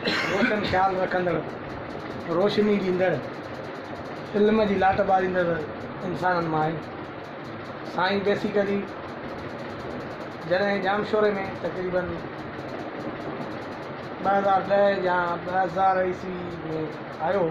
روشن خيال رکندڙ، روشني ڏيندڙ، علم جي لاٽ ٻاريندڙ انسانن مان آهي. سائين بيسيڪلي جڏهن ڄامشوري ۾ تقريبن ٻه هزار ڏهه يا ٻه هزار عيسوي ۾ آيو هو،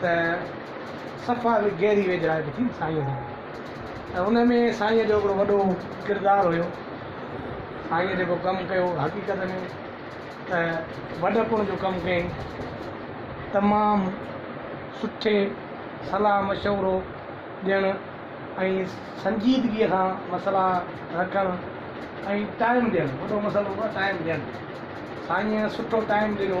ته صفا گهري ويجهڙائپ ٿي سائينء سان ۽ ان ۾ سائينء جو هڪڙو وڏو ڪردار هيو. سائينء جيڪو ڪم ڪيو حقيقت ۾ ته وڏپڻ جو ڪم ڪيائين. تمام سٺي صلاح مشورو ڏيڻ ۽ سنجيدگيء سان مسئلا رکڻ ۽ ٽائيم ڏيڻ وڏو مسئلو هو ٽائيم ڏيڻ سائينء سٺو ٽائيم ڏنو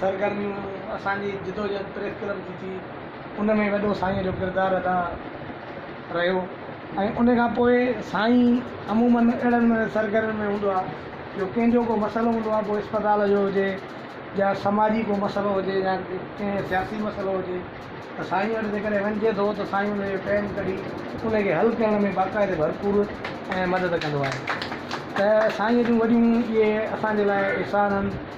سرگرميون اسان جي جدوجهد پريس ڪلب جي ٿي ان ۾ وڏو سائين جو ڪردار ادا رهيو ۽ ان کان پوء سائين عموماً اهڙن سرگرمين ۾ هوندو آهي جو ڪنهن جو ڪو مسئلو هوندو آهي پوء اسپتال جو هجي يا سماجي ڪو مسئلو هجي يا ڪنهن سياسي مسئلو هجي ته سائين وٽ جيڪڏهن وڃجي ٿو ته سائين ان جو ٽائيم ڪڍي ان کي حل ڪرڻ ۾ باقاعده ڀرپور ۽ مدد ڪندو آهي ته سائين جون وڏيون اهي اسان جي لاء احسان آهن